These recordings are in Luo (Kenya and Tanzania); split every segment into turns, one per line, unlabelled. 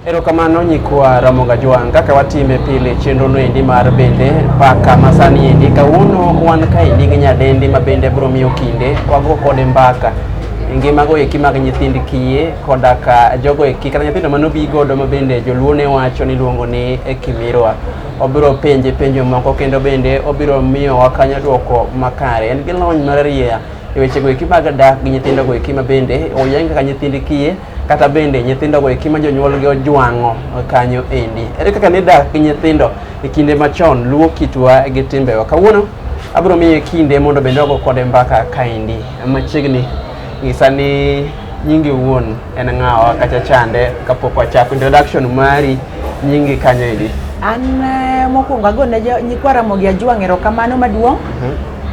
Erokamano nyikwa Ramoga Jwang' kaka watime pile chenrono endi mar bende paka masani endi kawuono wan kaendi gi nyadendi ma bende biro miyo kinde wago kode mbaka e ngimago eki mag nyithind kiye koda ka jogo eki kata nyithindo manobi godo ma bende joluo ne wacho ni luongo ni e kimirwa obiro penje penjo moko kendo bende obiro miyo wakanyo dwoko makare en gi lony mararieya e wechego eki mag dak gi nyithindogo eki ma bende oyang kaka nyithind kiye kata bende nyithindo go eki ma jonyuolgi ojwang'o kanyo endi. Ere kaka nidak gi nyithindo e kinde machon luwo kitwa gi timbewa? Kawuono abiro miye kinde mondo bende ogo kode mbaka kaendi machiegni ng'isa ni nyingi wuon en ng'awa kacha chande kapok wachako introduction mari nyingi kanyo endi An eh,
mokwongo agone jo- nyikwa Ramogi Ajwang' erokamano maduong'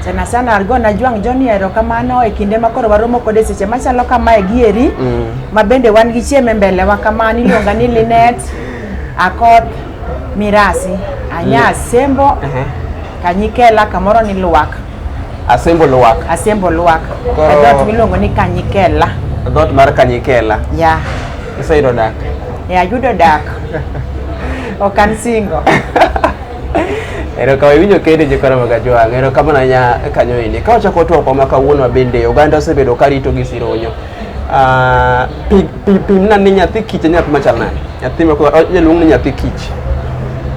sana sana alikuwa najua njoni erokamano e kinde ma koro waromo kode seche machalo kamae gi eri mm. ma bende wan gi chieme mbele wa kamano iluonga ni Linet Akoth Mirasi anya mm. Asembo uh -huh. Kanyikela kamoro ni Luwak Asembo
Luwak Asembo Luwak
koro... e dot miluongo ni Kanyikela e dot mar
Kanyikela ya yeah.
iseyudo dak
ya yeah, yudo dak
okan singo Ero
kawe winjo kende je kora maga jwa ngero kama na nya kanyo ini ka wacha koto kwa maka wuonwa bende oganda osebedo ka rito gi sironyo ah pi pi pi na ni nyathi kich nyathi machal nani nyathi ma ko jaluong ni nyathi kich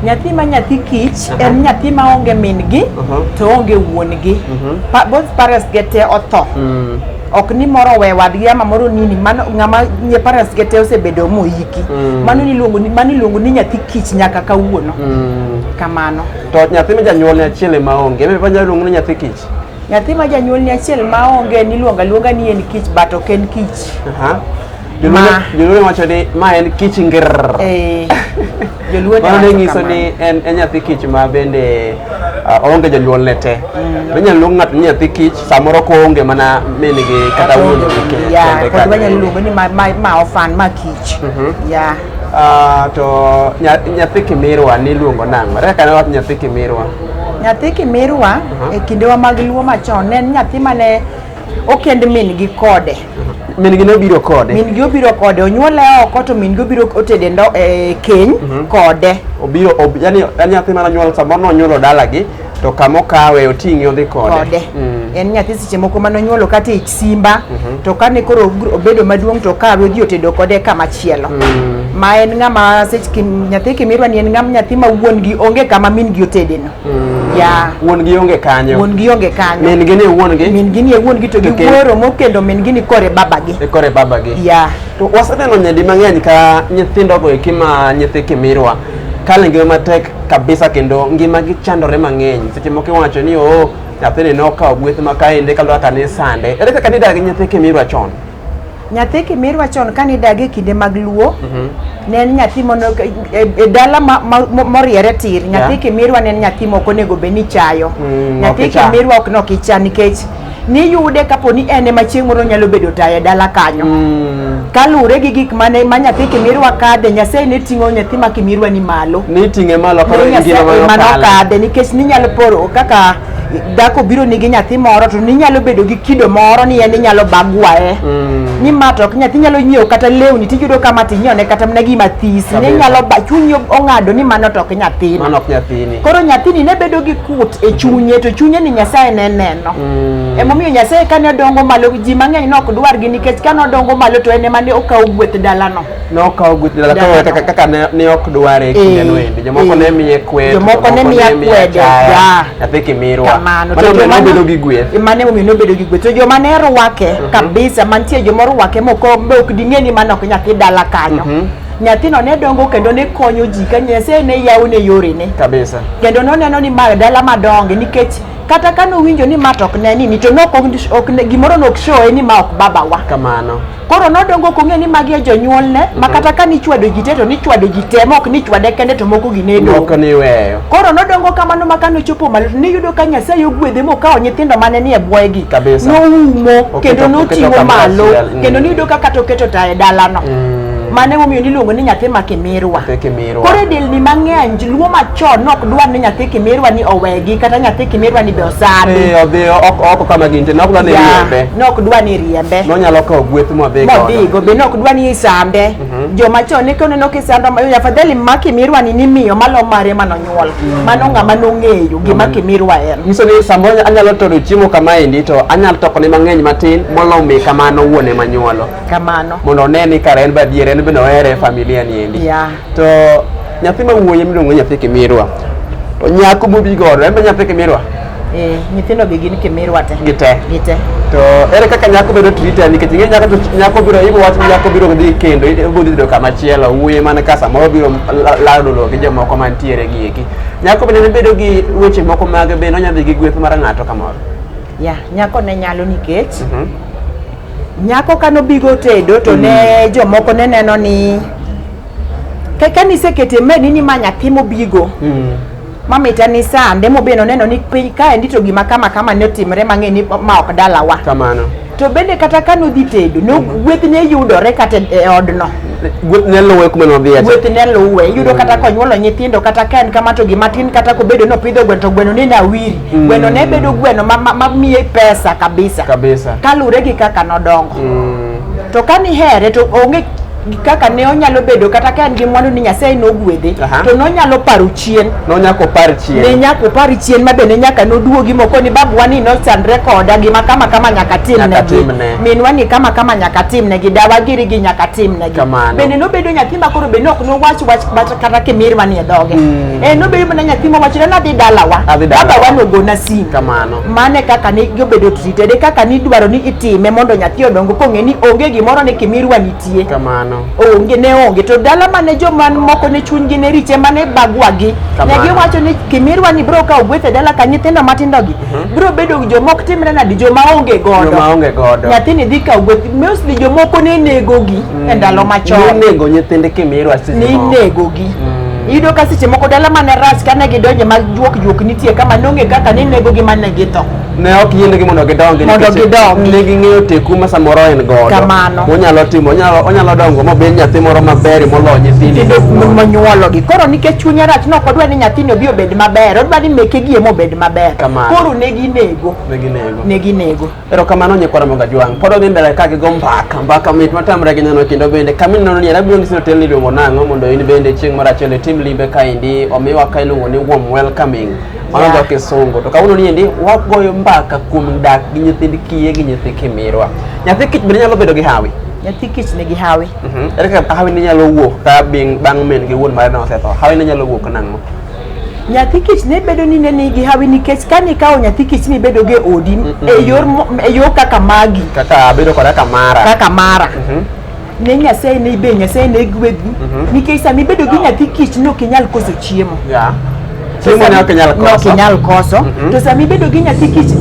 nyathi ma
nyathi kich Aha. en nyathi ma onge min gi Aha. to onge wuon gi Mhm. Pa- both parents gete otho mm. ok ni moro we wadgi ama moro nini mano ng'ama nye parents ge te osebedo moiki mm. mano niluongo ni mano iluongo ni nyathi kich nyaka kawuono mm. kamano to nyathi ma
janyuol ni achiel ema onge ebe pa nyalo luongo ni nyathi kich nyathi ma janyuol
ni achiel ma onge niluonga luonga ni en kich but ok en kich uh -huh. Joluo Ma.
joluo wacho ni ma en kich ngirr. Eh,
joluo Mano ne nyawacho nyiso kamano.
ni en en nyathi kich ma bende ah, oonge jonyuolne te. Be nyalo luong ng'ato ni nyathi kich samoro koonge mana min gi kata wuon gi ke- ya kende kod kanyo. wanyalo luongo
ni ma- ma- ma ofan ma kich Mhm. ya Ah, to
nya- nyathi kimirwa niluongo nang'o? Ere kaka ne wach nyathi kimirwa? nyathi
kimirwa e kindewa mag luo machon ne en nyathi mane okend min-gi kode min-gi nobiro
kode min-gi obiro kode
onyuole oko to min-gi obiro otede ndo e keny mhm. kode obiro ob,
yani nyathi mana nyuol samoro nonyuolo dalagi to kama okawe oting'i odhi kode, kode. Mm. en nyathi seche
moko mane onyuolo kata ich simba mm -hmm. to kane koro obedo maduong' to okawe odhi otedo kode kama chielo mm. ma en ng'ama seche nyathi kimirwa ni en ng'ama nyathi ma wuon gi onge kama min gi otedeno Mm. Yeah. Wuon gi onge kanyo.
Wuon gi onge kanyo. Min
gi ni wuon gi. Min
gi ni wuon gi to gi
wuoro mokendo min gi ni kore baba gi. E kore baba gi. Yeah.
To waseneno
nyadi
mang'eny ka nyithindo go eki ma nyithi kimirwa kale ngima matek kabisa kendo ngima gi chandore mang'eny seche moko iwacho ni oo oh, nyathini nokawo gweth ma kaende kaluwa kanisande ere kaka nidagi nyithi kimirwa chon Nyathi
Kimirwa chon kane idag e kinde mag Luo, Mhm. ne en nyathi mono e, e dala ma- ma- mo- moriere tir. Nyathi Yeah. Kimirwa ne en nyathi moko onego bed ni chayo. Mm, nyathi ok icha. Kimirwa ok nok icha nikech niyude kapo ni en ema chieng' moro nyalo bedo tayo e dala kanyo. Mm. Kaluwore gi gik mane ma nyathi Kimirwa kadhe, Nyasaye ne ting'o nyathi ma Kimirwa ni malo. Ni ting'e malo koro
Nyasaye ingima ma ema nokale. nokadhe
nikech ninyalo poro kaka dhako biro nigi nyathi moro to ninyalo bedo gi kido moro ni en inyalo bagwaye mm. ni ma to ok nyathi nyalo nyiewo kata lewni tiyudo ka ma tinyone kata mana gima this ni nyalo ba chunyi ong'ado ni mano to ok nyathini mano ok nyathini koro
nyathini ne bedo
gi kut e chunye to chunye ni nyasaye ne neno mm. emomiyo nyasaye kane odongo malo ji mang'eny ne ok dwargi nikech kane odongo malo to en ema ne okawo gweth dalano nokawo gweth dala
koro kaka kaka ne ne ok dware e kinde no endi jomoko ne miye kwedo jomoko ne miye kwedo
ya nyathi
kimirwa kamano to joma nobedo
gi
gweth mane omiyo nobedo gi gweth
to joma ne rwake mhm. kabisa mantie joma rwake moko be ok ding'e ni mano ok nyathi dala kanyo mhm. nyathino ne dongo kendo ne konyo ji ka nyasaye ne yawo ne yorene kabisa kendo noneno
ni ma
dala madonge nikech kata kane owinjo ni ma to ok ne nini to gimoro ne ok showe ni ma ok babawa kamano Koro
nodongo ok
ong'e ni magi e jonyuolne ma mhm. kata ka nichwado ji te to nichwado ji te ma ok nichwade kende to moko gi ne dong'.
Koro nodongo kamano
ma kane ochopo malo to niyudo ka Nyasaye ogwedhe mokawo nyithindo mane ni e bwoyegi noumo kendo noting'o malo kendo
mm. niyudo
ka kata oketo ta e dalano. Mm. Mane momiyo niluongo ni nyathi ma kimirwa. Koro e delni
mang'eny
luo machon nok dwar ni nyathi kimirwa ni owegi kata nyathi kimirwa ni be osami. Eh odhi oko
kama gintie nok dwar ni riembe. Nok dwar ni riembe.
Nonyalo kawo gweth
modhi go. Modhi go be nok
dwar ni isambe. Mhm. Joma chon ne kono nok isando ma afadhali ma kimirwa ni nimiyo malo mare manonyuol. Mhm. Mano ng'ama nong'eyo gima mhm. kimirwa en. Nyiso ni samoro anyalo
toro chiemo kama endi to anyalo toko ne mang'eny matin molomi kamano wuone manyuolo. kamano mondo one
ni kare en
badier en bende ohere e familia ni endi yeah. to nyathi ma wuoyi miluongo nyathi kimirwa to nyako mobi godo en be nyathi kimirwa eh, nyithindo
gi gin kimirwa te gite gite to
ere kaka nyako bedo trita nikech ing'e nyako to nyako biro ibo wach ni nyako biro dhi kendo ibo dhi do kama chielo wuoyi man ka samoro biro lado lo gi jomoko mantiere gi eki nyako bende ne bedo gi weche moko mag bende onyadhi gi gweth mar ng'ato kamoro ya yeah, nyako
ne nyalo nikech mm -hmm. Nyako ka nobigo tedo to ne mm. jomoko ne neno ni kaka nisekete meni ni ma nyathi mobigo mm. mamita ni sande mobeno neno ni piny kaendi to gima kama kama ne otimre mang'e ni ma ok dalawa kamano to
bende kata
ka nodhi tedo no mm. gweth ne yudore kata e odno gweth ne luwe
kuma nodhiye gweth ne luwe yudo
kata mm. konyuolo nyithindo kata ka en kama to gima tin kata kobedo nopidho gweno to gweno ni nawiri Mm. Gweno ne bedo gweno ma, ma, ma miye pesa kabisa. Kabisa. Kalure gi kaka nodongo. Mm. To kani here to onge kaka ne onyalo bedo kata ka en gi mwandu ni Nyasaye nogwedhe to nonyalo paro chien nonyako par chien
ne nyako par chien
ma be ne nyaka noduogi moko ni babu wani no chandre koda gi makama kama nyaka tim ne gi min wani kama kama nyaka tim ne gi dawa giri gi nyaka tim ne gi bende nobedo nyathi ma koro be nok nowach wach kata kimir manie dhoge mm. eh, nobedo mana nyathi mowachore nadhi dalawa babawa nogona simu kamano mane kaka ni obedo treated e kaka ni idwaro ni itime mondo nyathi odongo kong'e ni onge gimoro ni kimirwa nitie kamano onge ne onge to dala mane joma moko ne chunygi ne riche mane bagwagi ne giwacho ni kimirwa ni bro ka ogwethe dala ka nyithindo matindogi uh mhm. -huh. bro bedo joma ok timre nadi joma onge godo nyathini dhi ka ogweth mostly jomoko ne negogi mm. e ndalo machon. Ninego nyithinde kimirwa
sisi. Ninego gi.
Mm. Iyudo ka seche moko dala mane ras kane gidonje mag juok juok nitie kama nong'e kaka ninego gi mane githo. Ne ok yiene gi
mondo gidongi. Mondo gidongi. Ne ging'eyo teku ma samoro en godo. Kamano. Onyalo timo,
onyalo,
onyalo dongo mabed nyathi moro maber moloyo nyithinde. Kendo monyuolo gi.
Koro nikech chunye rach no kodwa ni nyathini obi obed maber. Odwa ni meke gi emo obed maber. Kamano. Koro ne ginego. Ne ginego. Ne ginego. Erokamano
nyikwa Ramoga Jwang'. Pod odhi mbele ka gigo mbaka, mbaka mit matamre gi neno kendo bende kama ineno ni abiro nyisi ni otel ni iluongo nang'o mondo in bende chieng' moro achiel itim limbe kaendi omiwa ka iluongo ni warm welcoming. Mano Yeah. dho kisungu. To kawuono ni endi wagoyo mbaka kuom dak gi nyithind kiye gi nyithi kimirwa. Nyathi kich bende nyalo bedo gi hawi. nyathi kich nigi
hawi Mhm. Ere kaka hawi
ne nyalo wuok ka bing- bang' min gi wuon mare ne osetho? Hawi ne nyalo wuok nang'o? nyathi
kich ne bedo ni ne nigi hawi nikech ka nikawo nyathi kich ni bedo ge odi e yor mo- e yo kaka magi kaka bedo koda
kamara kaka mara
ne nyasaye ne ibe nyasaye ne gwedhi nikech sama ibedo gi nyathi kich ne ok inyal koso chiemo ya To chiemo
ne sama- ok inyal ne ok koso inyal koso
Mhm. to sama ibedo gi nyathi kich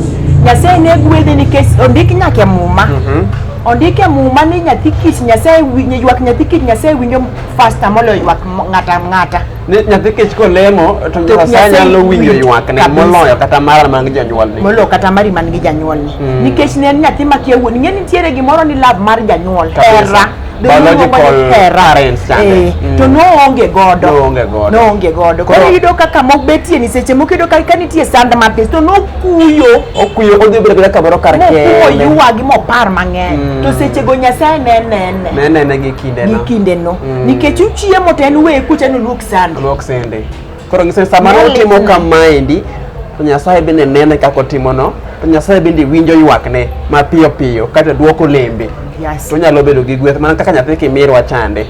nyasaye ne gwedhi nikech ondik nyaka e muma Mhm. ondik e muma ni nyathi kich nyasaye wi- ywak nyathi kich nyasaye winjo fasta moloyo ywak mo- ng'ata ng'ata Ni nyathi kech
kolemo to To Nyasaye Nyasaye nyalo winjo winjo ywakne kabisa. moloyo kata mara mag jonyuolne. molo kata mari man gi
janyuolni Mm. nikech ne en nyathi makia wuon ing'e ni nitiere gimoro ni love mar janyuol Kabisa. hera Be Biological
iluongo ni hera. parents chande. Eh, Mm. to
noonge godo Noonge godo. noonge godo Koro- koro iyudo kaka mok betie ni seche moko iyudo ka ka nitie sand mathis to nokuyo Okuyo odhi bedo bedo
kamoro kar mokuo kende. yuwagi mopar
mang'eny Mm. to sechego nyasaye ne nene Ne nene
gi kindeno. gi kindeno nikech uchiemo
to en weye kucha ni oluok sando luok sende
koro ng'ise sama Nyalo otimo lipni. kamaendi to nyasaye bende nene kaka otimono to nyasaye bende winjo ywakne mapiyo piyo kata duoko lembe Yes. to onyalo bedo gi gweth mana kaka nyathi kimirwa chande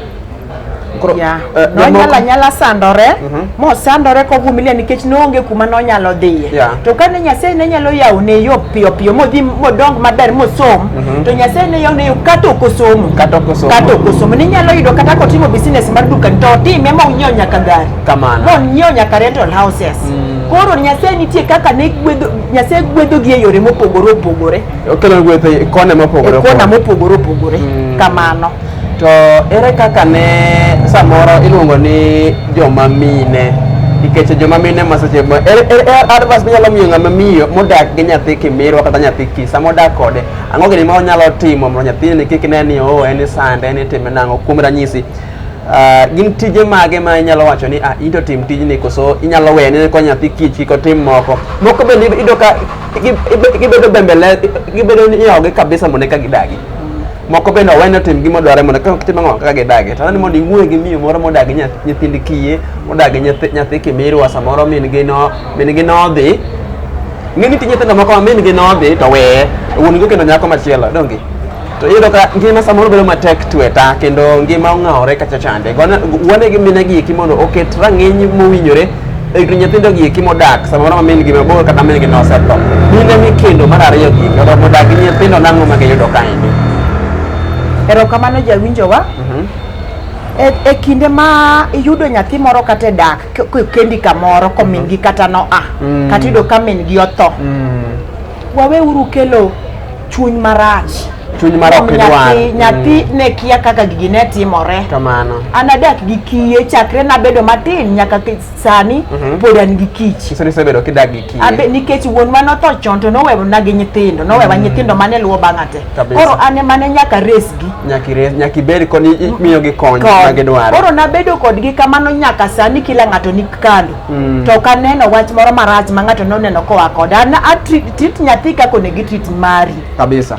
koro
Yeah. eh, jomoko- nonyala nyala sandore Mhm. mosandore kovumilia nikech noonge kuma nonyalo dhiye yeah. to kane nyasaye ne nyalo yawone yo piyo piyo modhi modong maber mosom mm -hmm. to nyasaye ne yawone yo kata ok osomo kata ok osomo kata ok osomo ninyalo yudo kata kotimo business mar duka to otime ma onyiew nyaka gari kamano monyiew nyaka rental houses mm. koro nyasaye nitie kaka ne gwedho nyasaye gwedho gi e yore mopogore opogore okelo gwedho e
kone mopogore e kona mopogore opogore mm.
kamano To
ere kaka ne samoro iluongo ni joma mine nikech joma mine ma seche ma er, er, er, advice minyalo miyo ng'ama miyo modak gi nyathi kimirwa kata nyathi ki sama odak kode ang'o gini ma onyalo timo mondo nyathini kik ne ni oo oh, en sande en itime nang'o kuom ranyisi ah, gin tije mage ma inyalo wacho ni ah, into tim tijni koso inyalo weye ne ko nyathi kich kik otim moko moko bende ido ka gibedo bembele gibedo ni iogi kabisa mondo eka gidagi moko bende owene otim gima odware mondo kaka kitimo ang'o kaka gidagi to ni mondo iwuoye gi miyo moro modagi nyithind kiye modagi nyathi kimirwa samoro min gi no min gi nodhi ng'e ni ti nyithindo moko ma min gi nodhi to weye wuon gi kendo nyako machielo donge to iyudo ka ngima samoro bedo matek tweta kendo ngima ong'awore kacha chande wuone gi mine gi eki mondo oket rang'iny mowinjore egni nyithindo gieki modak samoro ma min gi mabor kata min gi nosetho mine mikendo mar ariyo gi kata modak gi nyithindo nang'o ma giyudo kaendi
erokamano jawinjowa mhm. e, e kinde ma iyudo nyathi moro kata e dak kendi kamoro ko min mhm. gi kata noa mm. kata iyudo ka min gi otho mm. waweuru kelo chuny marach chuny mar ok
idwar nyathi mm. ne
kia kaka gigi ne timore kamano an adak
gi
kiye chakre nabedo matin nyaka sani mhm. pod an gi kich isebedo kidak gi kiye
abe nikech wuon ma notho
chon to nowewa na gi nyithindo nowewa mm. nyithindo mane luwo bang'a te koro an emane nyaka resgi nyaka ibed
kod mm. miyo gi kony ma gidwaro koro nabedo kodgi
kamano nyaka sani kila ng'ato ni kando to ok aneno wach moro marach ma ng'ato noneno koa koda an atreat Tit nyathi kaka onego itit mari. Kabisa.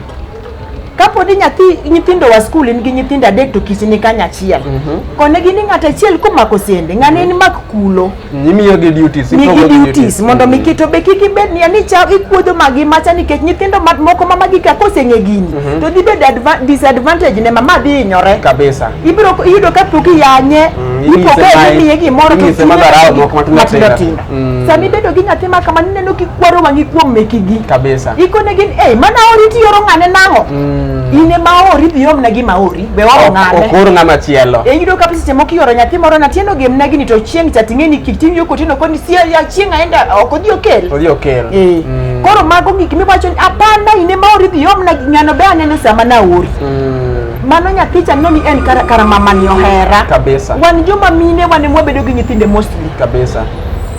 Kapo
ni nyathi nyithindo wa skul in gi nyithindo adek to kiti ni kanya achiel. Mm -hmm. Kone gi ni ng'at achiel komako sende, ng'ane mm -hmm. en mak kulo. Mm, imiyo gi duties.
Ni gi duties mondo mi mm. kito be
kiki bed ni ani cha ikuodo magi macha ni kech nyithindo mat moko mama gi ka koseng'e gini. Mm -hmm. To dhi bed disadvantage ne mama dhi inyore. Kabisa. Ibiro
yudo ka
puki yanye. Mm, ipoke ni miye gimoro to. Inyise madharau moko matindo tindo. Mm. Sami bedo gi nyathi ma kamano ineno kikwaro wang'i kuom mekigi. Kabisa. Ikone gin
eh mana
ori ti yoro ng'ane nang'o. Mm. In ema ori dhi omna gi maori. Be waro ng'ane. Okor ng'ama chielo.
E yudo ka pisi moko
yoro nyathi moro na tieno gem nagi ni to chieng' cha ting'e ni kik ting'e ko tino koni si ya chieng' aenda ok odhi okel. Odhi okel. Eh. Mm. Koro mago gik miwacho ni apana in ema ori dhi omna gi ng'ano be aneno sama na ori. Mm. mano nyathi cha noni en kara, kara mamani ohera kabisa wan joma
mine
wane mwabedo gi nyithinde most kabisa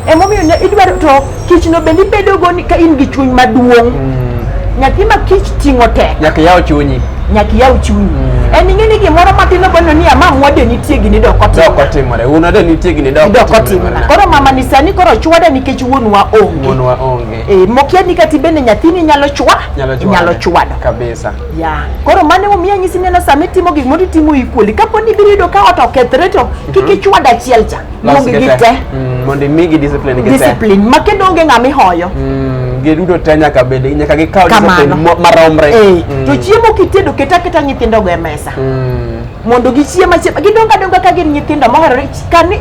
emomiyo ne
idwaro to kichno bende ibedogo ni ka in gi chuny maduong' mm. nyathi ma kich ting'o tek nyaka yaw chunyi
nyaka iyaw chunyi mm. en ing'e ni gimoro matin obono ni ama mwade nitie gini dok otimore wuonwa de nitie gini dok otimore koro mama
ni sani koro chwada nikech wuonwa onge wuonwa onge eh mokia ni kati bende nyathini nyalo chwa nyalo chwado kabisa
ya koro mane
omiyo anyisi neno sama itimo gik moro itimo equally kapo ni biro yudo ka ot okethre to kik mhm. ichwad achiel cha Luongi gi te. Mm, mondo imigi
discipline gi te. Discipline. Ma
kendo onge ng'ama ihoyo. Mm, giduto te
nyaka bed nyaka gikaw discipline maromre. Eh, mm. To chiemo
kitedo keta keta nyithindo go e mesa. Mondo gichiem achiem. Gidongo adonga ka gin nyithindo moherore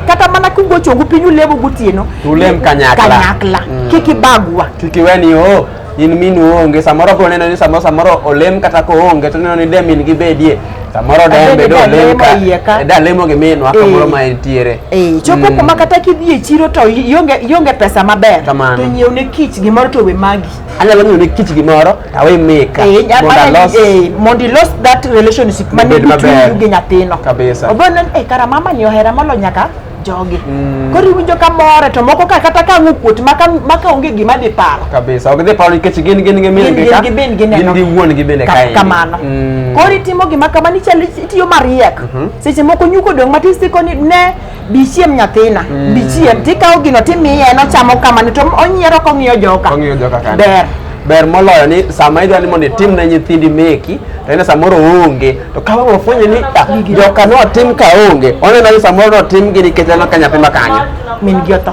kata mana kugochongu piny ulemo gotieno. Ulem kanyakla.
Kanyakla. Kik ibagwa.
Kik iweni oh.
in minu onge samoro bro neno ni samoro samoro olem kata ko onge to neno ni de min gi bedie samoro de en bedo olem ka e da lemo gi minwa eh. kamoro ma entiere eh chopo mm. kuma
kata kidhi e chiro to ionge ionge pesa maber to nyiew ne kich gimoro to we magi anyalo nyiew ne kich
gimoro to awe meka eh, eh,
mondo ilos that relationship mane between you gi nyathino kabisa obo neno eh
kara mama
ni ohera molo nyaka jogi mm. koro iwinjo ka more to moko ka kata ka ang'o kuot maka maka onge gima dhi paro kabisa ok dhi paro nikech
gin gin gi min gi ka gin gin gin gi wuon gi bende kae kamano mm.
koro itimo gima kama ni chal itiyo mariek mm -hmm. seche moko nyuko dong matis tiko ni ne bichiem nyathina mm. bichiem tikawo gino timiye en ochamo kamano to onyiero kong'iyo joka ong'iyo joka kani ber
ber moloyo ni sama idwa ni mondo itim ne nyithindi meki to ine samoro onge To ka wang' ofwenyo ni ah, joka notim ka onge, oneno ni samoro notim gi nikech aneno ka nyathi ma kanyo. Min gi otho.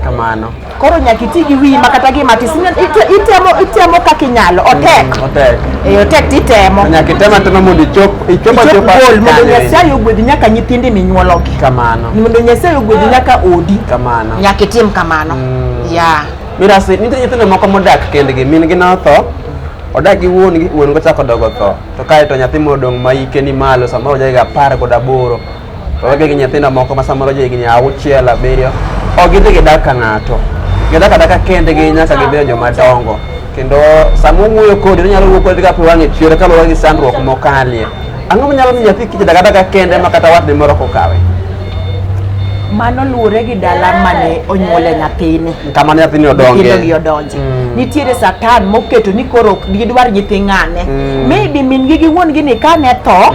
Kamano.
Koro nyaka iti
gi wiyi ma kata gima tis ine- ite- itemo itemo kaka inyalo otek. Otek. Eh, otek to itemo. Nyaka item atema mondo
ichop ichop Ichop achopa goal mondo kanyo eri.
Nyasaye ogwedhi nyaka nyithindi minyuologi. Kamano. Mondo
Nyasaye ogwedhi
nyaka odi. Kamano. Nyaka itim
kamano.
Yeah.
Mirasi, nitie nyithindo moko modak kendgi, min gi notho, odak gi wuon gi, wuon go chako dogo tho. to kae to nyathi modong' ma ike ni malo samoro jahigni apar kod aboro to wege gi nyithindo moko ma samoro jahigni auchiel abiriyo ok gidhi gidak ka ng'ato gidak adaka kendgi nyaka gibedo joma dongo kendo sama owuoyo kodi onyalo wuoyo kodi kapo wang'e chwere kaluwore gi sandruok mokalie ang'o manyalo miyo nyathi kijadak adaka kende ma kata watne moro kokawe mano
luwore gi dala mane onyuole nyathini kama nyathini odonge
nyithindogi odonje
nitiere satan moketo ni koro ok gidwar nyithi ng'ane maybe min gi gi wuon gi ni kane tho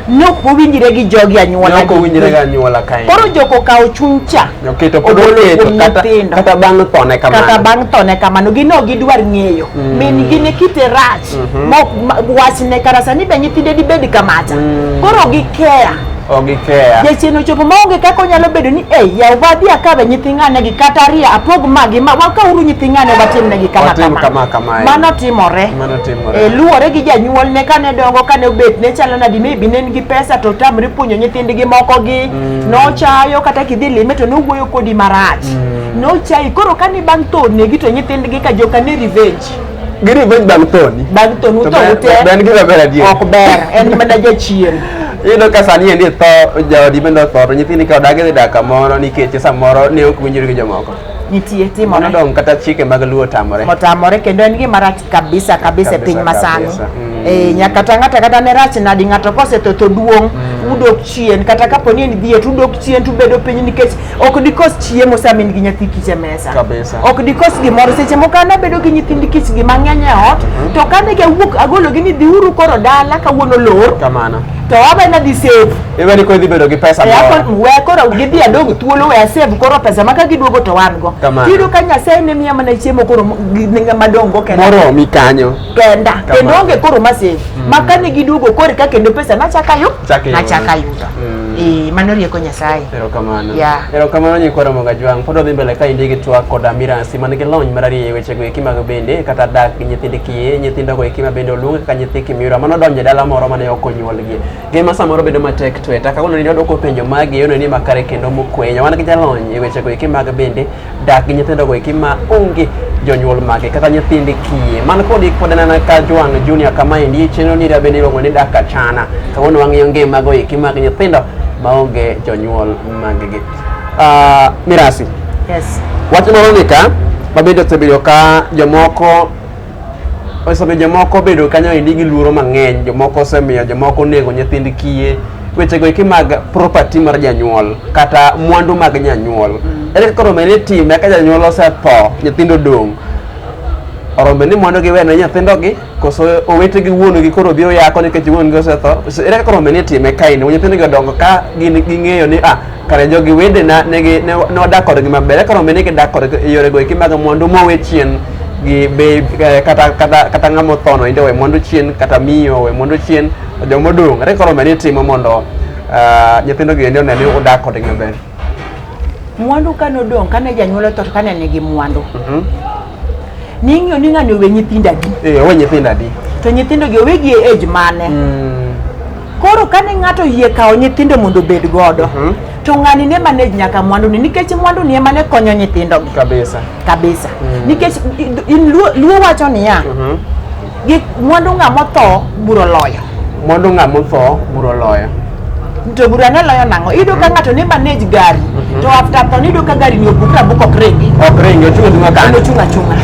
nok owinjre gi jogi anyuola ne ok owinjre gi anyuola kae koro jok okawo chuny cha oketo pod ogolo oketo kuom kata nyithindo. kata
bang' thone kamano kata bang' thone
kamano gin ok gidwar ng'eyo min gi ne kite rach mhm. mok wachne kara sani be nyithinde dibed kamata mm. koro ok gikeya ok gikeya jachien ochopo maonge kaka onyalo bedo ni e yaw badhi akabe nyithi ng'anegi kata ariyo apog magi ma wakauru nyithi ng'ane watimnegi kama kama kama mano timore e luwore gi janyuolne kane dongo kane obet ne chalo nadi maybe ne en gi pesa to tamre puonjo nyithindgi moko gi mm. nochayo kata kidhi lime to nowuoyo kodi marach mm. nochayi koro kane bang' thonegi to nyithindgi ka joka ne revenge Gini penj bang'
thoni. Bang' thoni utho ute. Ok ber gima ber adier.
Ok ber. En mana jachien. Iyudo ka sani
endi tho jaodi bende otho to nyithindi ka odagi dhi dak kamoro nikech samoro ne ok winjori gi jomoko. Nitie timore.
Nodong' kata chike mag
luo tamore. Otamore kendo en gima
rach kabisa kabisa e piny masani. Mm. Eh, nyaka ta ng'ata kata ne rach nadi ng'ato kosetho to duong' mm. udok chien kata kapo ni en dhier to udok chien to ubedo piny nikech ok dikos chiemo sama in gi nyathi kich e mesa Kabisa. ok dikos gimoro seche moko an abedo gi nyithind kich gi mang'eny e ot to kane gawuok agologi ni dhiuru koro dala kawuono lor kamano to abe
nadhi
save iwe ni koro idhi bedo gi
pesa E, moro. akon- we koro gidhi
adog thuolo we asave koro pesa ma ka giduogo to wan go Kamano. tiyudo ka nyasaye ne miya mana chiemo koro m- gi- ne ng'ama dongo kenda moromi kanyo
kenda kendo onge
koro masin mm. ma kane giduogo kore ka kendo pesa nachaka yu nachaka yudo mm. eh, mano rieko nyasaye erokamano
yeah. erokamano nyikwa ramoga jwang' pod odhi mbele ka indi gi twak koda miransi man gi lony marariyo e wechego eki mag bende kata dak gi nyithind kiye nyithindogo eki ma bende oluonge kaka nyithi kimiura mano donje dala moro mane ok onyuolgie ngima samoro bedo matek tweta kawuono ni odwoko penjo magi yono ni makare kendo mokwenya wan gi jalony e wechego eki mag bende dak gi nyithindogo eki ma onge jonyuol mage kata nyithind kiye man kodi pod anena ka Joan Junior kama endi chenro ni rabende iluongo ni dak achana kawuono wang'iyo ngimago eki mag nyithindo ma onge jonyuol maggi Ah, mirasi Yes.
wach moro ni ka
mabende osebedo ka jomoko osemiyo jomoko obedo kanyo endi gi luoro mang'eny jomoko osemiyo jomoko onego nyithind kiye wechego eki mag property mar janyuol kata mwandu mag janyuol mm. ere kaka rombe ni time ka janyuol osetho nyithindo dong' orombe ni mwandu gi wene nyithindo gi koso owete gi wuon gi koro biro yako nikech wuon gi osetho ere kaka rombe ni time kaini nyithindo gi odongo ka gin ging'eyo ni ah kare jogi wedena negi ne ne wadak kodgi maber eka rombe ni gidak kodgi e yore goeki mag mwandu mowe chien gi be eh, kata kata kata ng'ama othono inde owe mwandu chien kata miyo owe mwandu chien to joma odong' ere koro rombe ni timo mondo ah, nyithindogi endi one ni udak kodgi maber
mwandu kane odong' kane janyuol otho to kane nigi mwandu Mhm. Ning'yo ni ng'ani owe nyithindo adi? Eh, owe nyithindo adi?
To nyithindo gi owegi
e age mane? Mm. Koro kane ng'ato yie kawo nyithindo mondo obed godo, mm -hmm. to ng'ani ne manage nyaka mwandu ni nikech mwandu ni ema ne konyo nyithindo gi. Kabisa. Kabisa. Mm. Nikech in luo, luo wacho niya, mm -hmm. Gik mwandu ng'a motho buro loyo. Mwandu ng'a motho
buro loyo. To bura
ne loyo nang'o? Iyudo ka ng'ato ne manage gari to after tho niyudo ka gari ni obuk rabuk ok ringi. Ok ringi ochung' achung'a En kande. ochung' achung'a.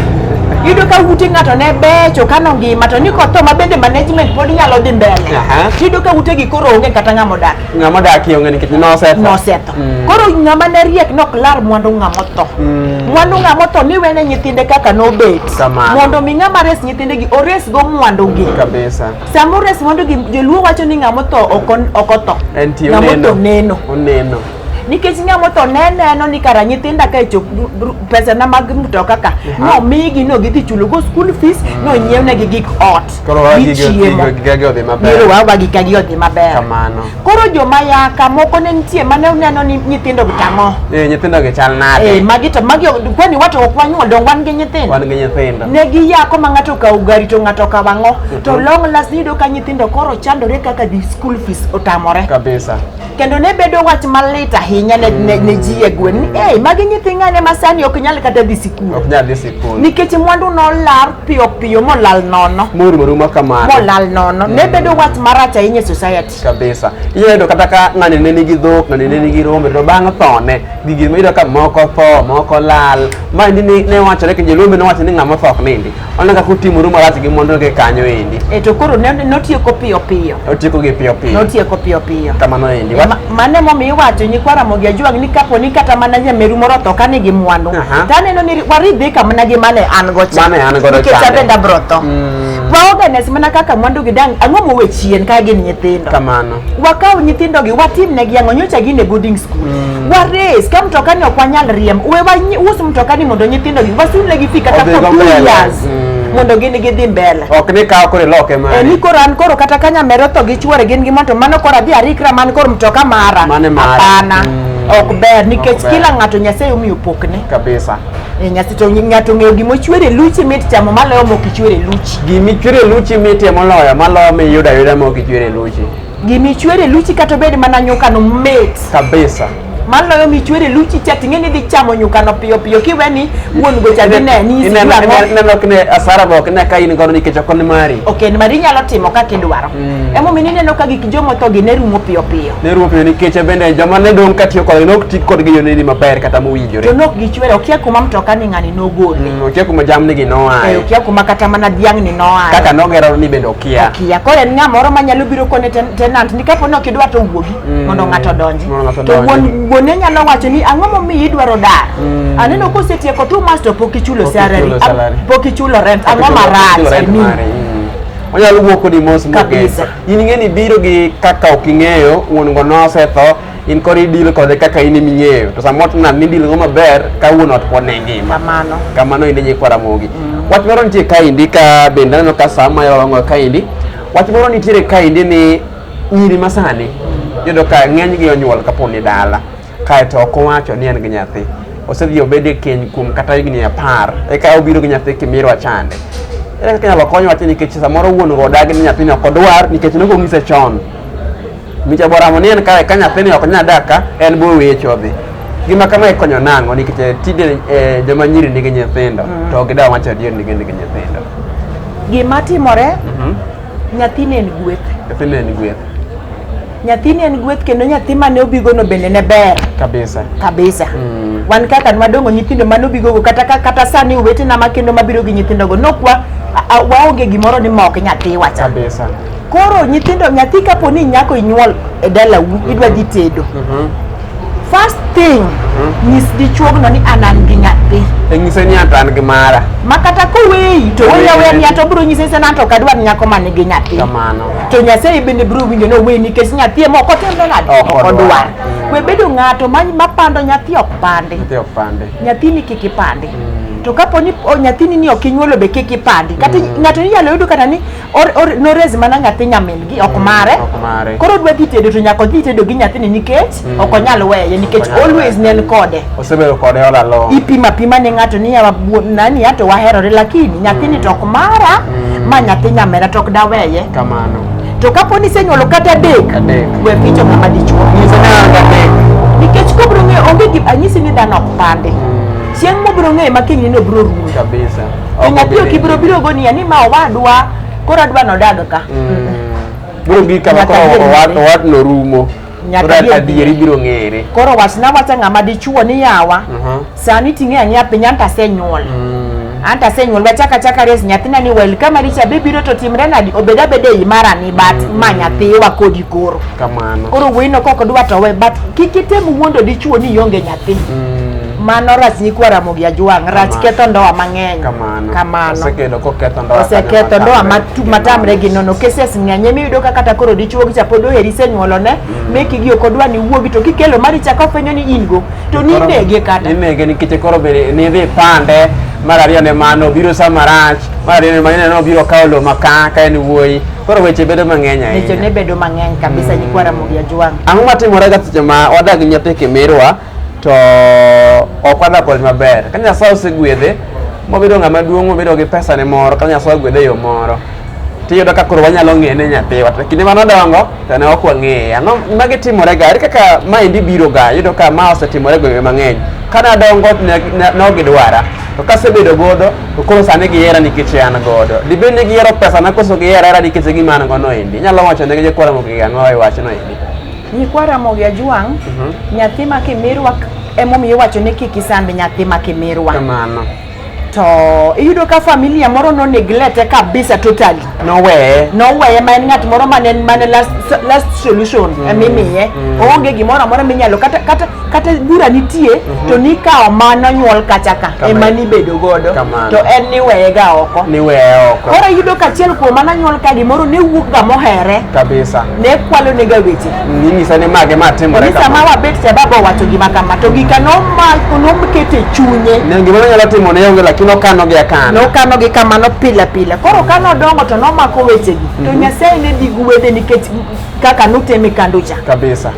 Iyudo ka ute ng'ato ne becho kano ngima to ni kotho ma bende management pod nyalo dhi mbele. Aha. Tiyudo ka utegi koro onge kata ng'ama odak. Ng'ama odakie onge nikech
nosetho. Nosetho. Mm.
Koro ng'ama ne riek nok lar mwandu ng'ama otho. Mm. Mwandu ng'ama otho ni wene nyithinde kaka nobet. Kamano. Mondo mi ng'ama res nyithinde gi ores go mwandu gi. Kabisa. Sama ores mwandu gi joluo wacho ni ng'ama otho ok on- ok otho. En ti Ng'ama oneno. otho neno. Oneno. Nikech ng'ama otho ne neno ni kara nyithinda ka chop pesa na mag mtoka ka Aha. no migi no gidhi chulo go school fees no nyiewnegi gik ot. Koro wagi gi- gichiemo.
gi- gi- gi- gi- odhi maber. Biro wawa
gi kagi odhi maber. Kamano. Koro
joma yaka
moko ne nitie mane uneno ni nyithindo gi tang'o. Eh, nyithindo gi chal
nade? Eh, magi to magi kwani
wato ok wanyuol dong wan gi nyithindo. Wan gi nyithindo. Ne gi yako ma ng'ato kawo gari to ng'ato kawo ang'o. Mhm. To long last yudo ka nyithindo koro chandore kaka di school fees otamore. Kabisa. Kendo ne bedo wach malit ahinya ne ne, ne mm. ji e gwen ni eh magi nyithindo ne masani ok nyal kata dhi sikul. Ok nyal dhi sikul. Nikech mwandu nolar piyo piyo molal nono morumo rumo kamano molal nono ne mm. bedo wach marach ahinya e society kabisa iyudo kata
ka ng'ani ne nigi dhok ng'ani ne nigi rombe to bang' thone gigi iyudo ka moko tho moko lal ma endi ne wachore ke jolombe ne wacho ni ng'ama otho ok nindi oneno kaka otimo rumo marach gi mondo gi kanyo endi e to koro
notieko piyo piyo otieko
gi piyo
piyo notieko piyo
piyo kamano
endi
Mano emomiyo
iwacho nyikwa Ramogi Ajwang' ni kapo ni kata mana nyameru moro otho ka nigi mwandu Aha. to aneno ni waridhi ka mana gi mane an go cha Mane an godo nikech chande. abende abiro tho Mm. waorganize mana kaka mwandu gi dang' ang'o mowe chien ka gin nyithindo Kamano. wakaw
nyithindogi
watimnegi ang'o nyocha gin e boarding school wares ka mtokani ok wanyal riemb we wanyi- us mtokani mondo nyithindogi wasulnegi fi kata Odhigo for two mbele. years Mm. mondo gin gidhi mbele ok ni kawo koro iloke
mari e ni koro an koro kata ka
nyamera otho gi chuore gin gi mon to mano koro adhi arikra man koro mtoka mara Mane mara. hapana Mm. ok ber nikech ber. kila ng'ato nyasaye omiyo pokne kabisa e
nyasi to
ng'ato ong'eyo gima ochwere luchi mit chamo maloyo mok ichwere luchi gima ichwere luchi
mitie moloyo maloyo miyudo ayuda ma ok ichwere luchi gima ichwere
luchi kata obed mana nyukano mit kabisa
maloyo michwere
luchi cha ting'e ni dhi chamo nyukano piyo piyo kiwe ni wuon go cha dine ni Ineno- sijua ineno- ineno ok ne
asara be ok ne ka in godo nikech ok ni mari ok en mari inyalo timo
kaka idwaro Mm. emomiyo ineno ka gik jomothogi ne rumo piyo piyo ne rumo piyo nikech bende joma
ne dong' ka tiyo kodgi ne ok ti kodgi e yorni maber kata mowinjore to nok gichwere okia
kuma mtoka ni ng'ani nogole Mm, okia kuma jamnigi Eh,
noaye okia kuma kata mana
dhiang' ni noaye kaka nogero ni bende
okia okia koro en ng'a moro
manyalo biro kone ten- tenant ni kapo ni ok idwa to wuogi Mm. mondo ng'ato donji to wuone nyalo wacho ni ang'o momiyo idwaro dar mm. aneno kosetieko two months to pok ichulo salary pok ichulo rent ang'o marach e mi
onyalo wuok kodi mos kabisa in ing'e ni biro gi kaka ok ing'eyo wuon go nosetho in kori deal kode kaka in iming'eyo to samoro tna ni deal go maber ka wuon ot pod ne ngima kamano kamano inde nyikwara mogi mm. wach moro nitie kaindi ka bende aneno ka sama yolong'o kaindi wach moro nitiere kaindi ni Nyiri masani yudo ka ng'enygi onyuol kapo ni dala kaeto ok owacho ni en gi nyathi osedhi obed e keny kuom kata higni apar eka obiro gi nyathi kimirwa chande ere kaka inyalo kony wachni nikech samoro wuon go odagi ni nyathini ok odwar nikech ne ok onyise chon micha boramo ni en kae ka nyathini ok nyal dak ka en bo weche odhi gima kama ikonyo nang'o nikech eh, tinde eh, joma nyiri nigi nyithindo to gidawa wacho adier ni gin nigi nyithindo Gima
timore Nyathini en gweth. Nyathini en gweth. Nyathini en gweth kendo nyathi mane obigono bende ne ber. Kabisa. Kabisa. Mm. Wan kaka madongo nyithindo mane obigogo kata kata sani owetena ma kendo mabiro gi nyithindogo nokwa waonge gimoro ni mok nyathi wacha. Kabisa. Koro
nyithindo
nyathi kapo ni nyako inyuol e dalau idwa dhi tedo. Mm -hmm. First thing hmm? nyis dichuogno ni an an gi nyathi. E nyise ni an
gi mara. Ma kata koweyi
to weya weya ni ato bro nyise sana to kadwa nyako man gi nyathi. Kamano. To Nyasaye
bende
bro winjo no weyi nikech nyathi ema ok otendo nade. Ok odwa. Hmm. We bedo ng'ato ma mapando nyathi ok pande. Nyathi ok pande. Nyathi ni kiki pande. Mm. to kapo ni nyathini ni ok inyuolo be kik ipandi kata mm. ng'ato inyalo yudo kata ni or, or, norezi mana nyathi nyamingi ok mare ok mare koro odwa dhi tedo to nyaka odhi tedo gi nyathini nikech Mm. ok onyal weye nikech Ok onyal always weye. ne en kode osebedo kode all
along ipima pima ne ng'ato
ni yawa bu- nani ya to waherore lakini nyathini to ok mara Mm. ma nyathi nyamera to ok daweye kamano to
kapo ni
isenyuolo kata adek Adek. we picho ng'ama dichuo nyiso ni an adek nikech kobro ng'eyo onge gi anyisi ni dhano ok pande chieng' mobro ng'eyo ma kinyne ni obro rumo kabisa Ok Piny
apio obi- kibiro
biro go niya ni ma owadwa koro adwa nodag ka. biro
gi kama Nyaka koro adier owad- ng'ere. owadno rumo Nyaka Koro adier adieri biro ng'ere Koro wachna wacha
ng'ama dichuo ni yawa. Mhm. Sani ting'e ang'eya piny anta asenyuol. Anta asenyuol wachaka chaka res nyathina ni wel kama richa be biro to timre nadi obed abeda ei mara ni bat ma nyathiwa kodi koro. kamano Koro wuoyino kok dwa to we but kik item wuondo dichuo ni ionge nyathi. Mm. mano rach nyikwa Ramogi Ajwang' rach ketho ndoa mang'eny kamano osekelo koketho ndoa oseketho ndoa matamre gi nono cases ng'eny emi yudo ka kata koro dichuo gi chapodo heri senyuolo ne mm. meki gi ok odwa ni wuogi to kikelo mari chako fenyo ni in go to ni nege kata ni nege nikech koro be
ni dhi pande mar ariyo ne mano biro sa marach mar ariyo ne mano no biro kawo lo maka ka en wuoyi koro weche bedo mang'eny ahinya weche ne bedo mang'eny
kabisa mm. nyikwa Ramogi Ajwang' ang'o matimore ga seche
ma wadag nyathi kimirwa to ok wadwa kode maber. Ka Nyasaye osegwedhe mobedo ng'ama duong' mobedo gi pesane moro kata Nyasaye ogwedhe e yo moro tiyudo ka koro wanyalo ng'eye ne nyathiwa to kinde mane odongo to ne ok wang'eye. Ang'o ma gitimorega? Ere kaka maendi biroga? Iyudo ka ma osetimore gwenge mang'eny. Ka nadongo ne ne- ne ok gidwara to kasebedo godo to koro sani gihera nikech an godo. Dibed ni gihero pesana koso gihera hera nikech gima an gono endi. Inyalo wacho ne jokwaromogi ang'o e wachno endi? Nyikwa Ramogi
Ajwang', Mhm. nyathi ma Kimirwa emomiyo iwacho ni kik
isand
nyathi ma Kimirwa. Kamano. To iyudo ka familia moro no neglete kabisa totally. Noweye.
noweye ma en ng'at moro mane
mane last, last solution mm. mimiye mm. oonge gimoro amora minyalo kata, kata kata bura nitie mm -hmm. to nikawo mano nyuol kacha ka ema nibedo godo to en niweye ga oko niweye oko koro yudo ka achiel kuom mano nyuol ka gimoro ne wuok ga mohere kabisa ne
kwalo ne ga
weche ninyisa ni mage ma
timore kama sama wabet cha baba
wacho gima kama to gika no ma no mkete chunye ne gimoro nyalo timo
ne yonge lakini okano gi akano no kano gi kama no pila
pila koro kano dongo to no mako weche gi mm -hmm. to mhm. nyasaye ne digu wede nikech kaka nuteme kanducha kabisa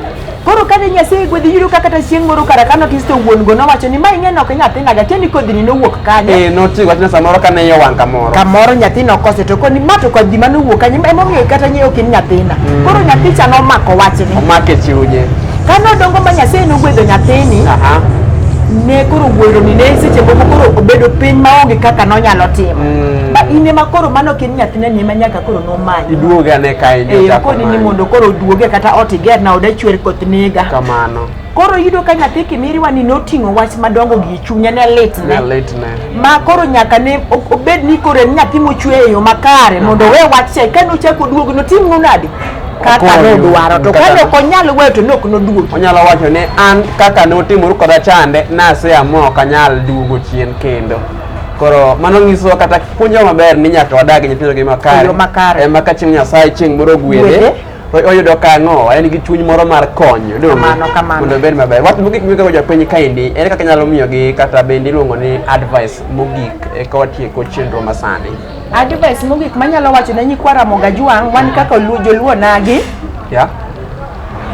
Koro kane
Nyasaye gwedhi yudo ka kata chieng' moro kara kano kisto wuon go nowacho ni ma ing'e nok nyathina ga tieni kodhini nowuok kanye. Eh noti wachna samoro
kane iye wang' kamoro. Kamoro nyathina okose to koni
ma to kodhi mane owuok kanye ema omiyo kata ng'eyo kin nyathina. Mm. Koro nyathi cha nomako wachni. Omake chunye.
Kane odongo ma
Nyasaye nogwedho nyathini. Aha. Ne koro wuoro ni ne seche moko koro obedo piny maonge kaka nonyalo timo. Mm. Ba in ema koro mano kin nyathina ni ema nyaka koro nomanyi iduoge ane kae ndio
eh, koni ni mondo
koro oduoge kata ot iger na oda chwer koth nega kamano koro
yudo ka
nyathi kimiriwa ni noting'o wach madongo gi chunye ne litne ma koro nyaka ne obed ni koro en nyathi mochwe e yo makare mondo owe wach cha ka nochako oduogo notimno nadi kaka nodwaro to kane ok onyal weyo to ne ok noduogi onyalo wacho ni
an kaka notimoru koda chande naseamua ok anyal duogo chien kendo Koro mano nyisowa kata puonjo maber ni nyaka wadag gi nyithindo gi makare. makare. Ema ka chieng' Nyasaye chieng' moro gwedhe. Oyudo kang'o, en gi chuny moro mar konyo. Kamano, kamano. Mondo obed maber. Wach mogik miwego jopiny kaendi, en kaka inyalo miyogi kata bende iluongo ni advice mogik eka watieko chenro masani. Advice mogik
manyalo wacho ne nyikwa Ramogi Ajwang' wan kaka joluo nagi. Yeah.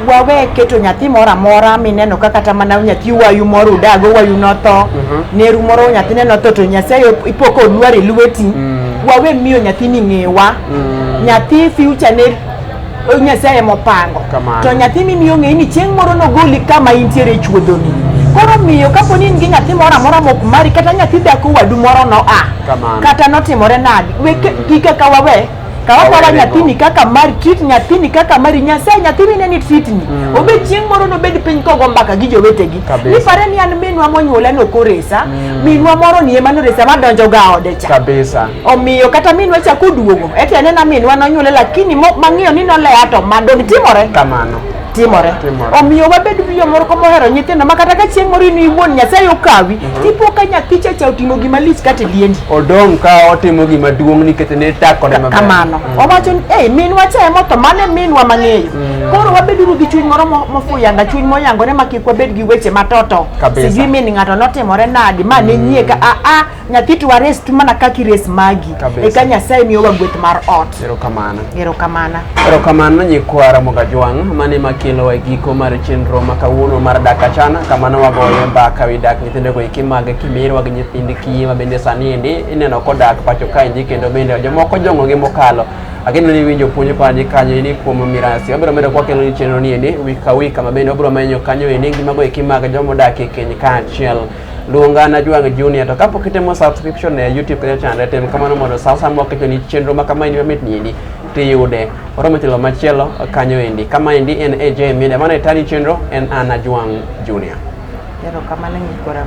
wawe keto nyathi moro amora mineno ka kata mana nyathi wayu moro udago wayu notho Mhm. neru moro nyathine notho to nyasaye ipoko olwar e lweti Mm. wawe miyo nyathini ng'ewa Mm. nyathi future ne o- nyasaye emopango Kamano. to nyathi mimiyo ng'eyi ni chieng' moro nogoli kama intiere e chuodhoni koro miyo kapo ni in gi nyathi moro amora mok mari kata nyathi dhako wadu moro noa Kamano. kata notimore nadi weke gika ka wawe Kawa Awere kwala nyathini go. kaka mari, treat nyathini kaka mari, Nyasaye nyathini ne ni treat ni. Obed chieng' moro nobed piny kogo mbaka gi jowetegi. Kabisa. Ni pare ni an minwa monyuola no koresa, minwa moro ni ema noresa madonjo ga ode cha. kabisa omiyo
kata minwa
cha koduogo eti anena minwa nonyuole lakini mo- mang'iyo ni noleya to madong timore kamano timore
Timore.
omiyo wabed gi jomoko mohero nyithindo ma kata ka chieng' moro in iwuon nyasaye okawi tipo ka nyathi chacha otimo gima lich kata liendi odong' ka otimo
gima duong' nikech ne takone maber kamano owacho ni
ei minwa cha emotho mano e minwa mang'eyo koro wabeduru gi chuny moro mo- mofuyanga chuny moyangore ma kik wabed gi weche matoto Kabisa. sijui min ng'ato notimore nadi ma ne nyie ka aa nyathi to wares tu mana kaka ires magi Kabisa. eka nyasaye miyowa gweth mar ot erokamano erokamana erokamano
nyikwa ramoga jwang' mane makelo e giko mar chenro ma kawuono mar dak achana kama nowagoye mbaka wi dak nyithindogo eki mag kimirwa gi nyithind kiye ma bende sani endi ineno kodak pacho kaendi kendo bende jomoko jong'ogi mokalo ageno ni winjo puonj koani kanyo endi kuom mirasi wabiro medo kwakelo ni chenro ni endi wik ka wik kama bende wabiro menyo kanyo endi ngimago eki mag jomodak e keny kaachiel luonga na Jwang Junior to kapok itimo subscription e YouTube kata channel tem kamano mondo sa sa moko ni chenro ma kama ni mamit ni endi tiyude oromo telo machielo kanyo endi kama endi en AJ Media mana itani chenro en Ana Jwang Junior Ero kamano nyikora